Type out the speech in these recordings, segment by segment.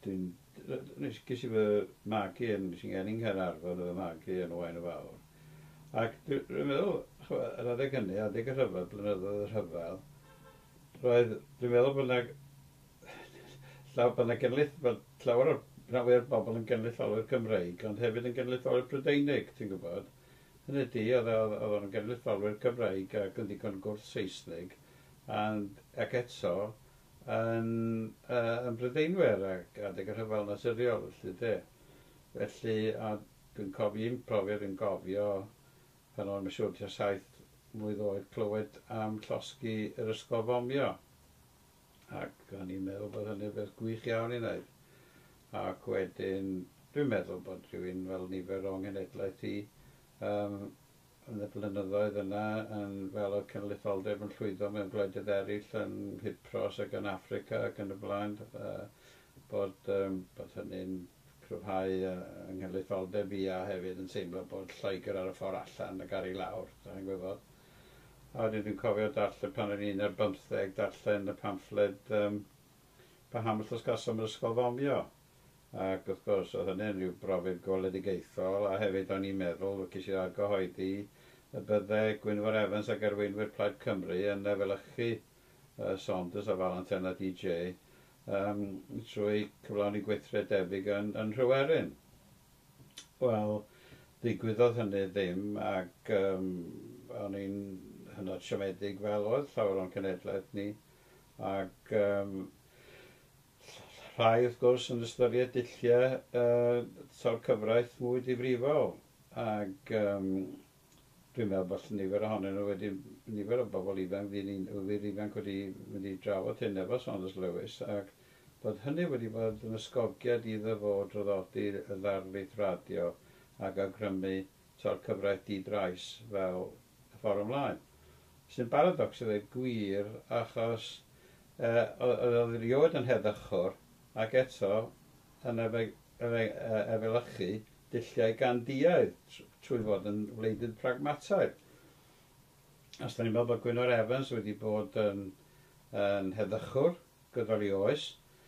Dwi'n... nes... ges i fy magu yn... nes i geni yn Nghaernarfon a fy magu yn Owain y Fawr ac dwi... dwi'n meddwl, ch'mo', yr adeg hynny, adeg y rhyfel, blynyddoedd y rhyfel, roedd... dwi'n meddwl bod 'na llaw- bod 'na genlith- bod llawer o'r... rhan fwya' o'r bobl yn genedlaetholwyr Cymreig ond hefyd yn genedlaetholwyr Prydeinig, ti'n gwybod? Hynny ydi, oedd o... oedd o'n genedlaetholwyr Cymreig ac yn ddigon gwrth-Seisnig and ac eto yn yn Brydeinwyr ac adeg y rhyfel naturiol felly de felly a dwi'n cofio un profiad yn gofio pan o'n i'n siŵr tua saith mlwydd oed clywed am llosgi yr ysgol fomio ac o'n i'n meddwl bod hynny'n beth gwych iawn i wneud ac wedyn dwi'n meddwl bod rhywun fel nifer o'n ngenedlaeth i um, yn y blynyddoedd yna yn fel oedd cynulleidfaoldeb yn llwyddo mewn gwledydd eraill yn Nghypros ac yn Affrica ac yn y blaen a bod yym bod hynny'n cryfhau yy yng nghenulleidfaoldeb i a hefyd yn teimlo bod Lloegr ar y ffordd allan ac ar ei lawr dach chi'n gwybod a wedyn dwi'n cofio darllen pan o'n i'n un ar bymtheg darllen y pamffled yym Bahamas Los Casom yr ysgol fomio ac wrth gwrs oedd hynny'n rhyw brofiad gweledigaethol a hefyd o'n i'n meddwl, ces i'r argyhoeddi, y bydde Gwynfor Evans ac arweinwyr Plaid Cymru yn efelychu yy Saunders a Valentine a DJ yym trwy cyflawni gweithred debyg yn yn Nhryweryn. Wel, ddigwyddodd hynny ddim ac yym o'n i'n hynod siomedig fel oedd llawer o'n cenhedlaeth ni ac yym Rhai, wrth gwrs, yn ystyried dulliau tair cyfraith mwy difrifol, ac dwi'n meddwl bod nifer ohonyn nhw wedi, nifer o bobl ifanc, fi ni'n wir ifanc wedi mynd i drafod hyn efo Saunders Lewis, ac bod hynny wedi bod yn ysgogiad iddo fo draddodi y ddarlith radio ac awgrymu tor cyfraith di-drais fel y fforwm mlaen. Sy'n baradocs i ddweud gwir achos oedd o erioed yn heddychwr ac eto yn efelychu dulliau Gandhiaidd trwy fod yn wleidydd pragmataidd. Os da ni'n meddwl bod Gwynfor Evans wedi bod yn heddychwr gydol ei oes,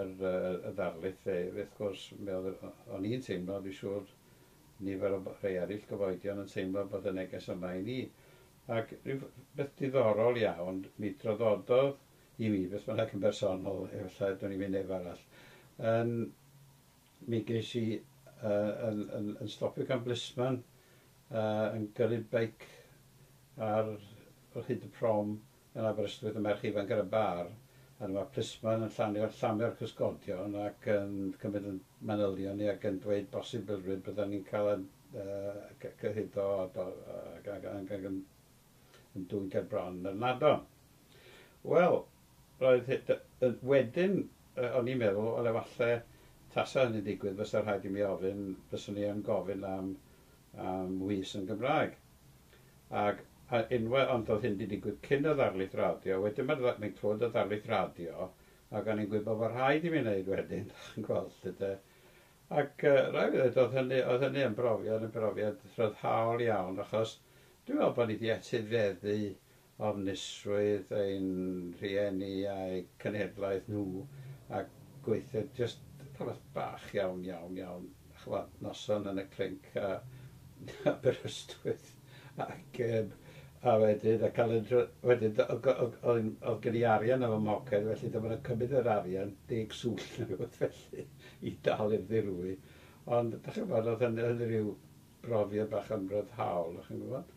yr y ddarlith fe wrth gwrs mi o'dd o- o'n i'n teimlo fi siŵr nifer o b- rhei eryll gyfoedion yn teimlo bod y neges yma i ni ac ryw f- beth diddorol iawn mi droddododd i mi beth bynnag yn bersonol efallai dwn i fi neb arall yn mi ges i y- yn yn yn stopio gan blisman y- yn gyrru beic ar hyd y prom Yn Aberystwyth y merch ifanc ar y bar, a dyma plismon yn llanio llame o'r cysgodion ac yn cymryd ein manylion ni ac yn dweud bosibilrwydd byddan ni'n cael ein cyhuddo ac yn dwyn gerbron yr ynadon. Wel, roedd wedyn o'n i'n meddwl, wel efalle tasa hynny'n digwydd fysa rhaid i mi ofyn, fyswn i yn gofyn am ŵys yn Gymraeg. Ac a unwa- ond oedd hyn 'di digwydd cyn y ddarlith radio, wedyn ma'r dda- mae'n clywed y ddarlith radio, ac o'n i'n gwybod fod rhaid i mi wneud wedyn, dach chi'n gweld, 'lly 'de. Ac yy raid fi ddeud, oedd hynny, oedd hynny yn brofiad, yn brofiad rhyddhaol iawn, achos dwi'n meddwl bod ni 'di etifeddu ofnusrwydd ein rhieni a'u cenhedlaeth nhw a gweithred jyst rhywbeth bach iawn, iawn, iawn, ch'mod, noson yn y clinc a Aberystwyth ac yym a wedyn a cael yr wedyn d- o- o- o- oedd oedd gen i arian yn fy mhoced felly dyma nhw'n cymryd yr arian, deg swllt neu rywbeth felly i dal i'r ddirwy ond dach chi'n gwybod oedd hynny oedd hynny ryw brofiad bach ymryddhaol dach chi'n gwybod.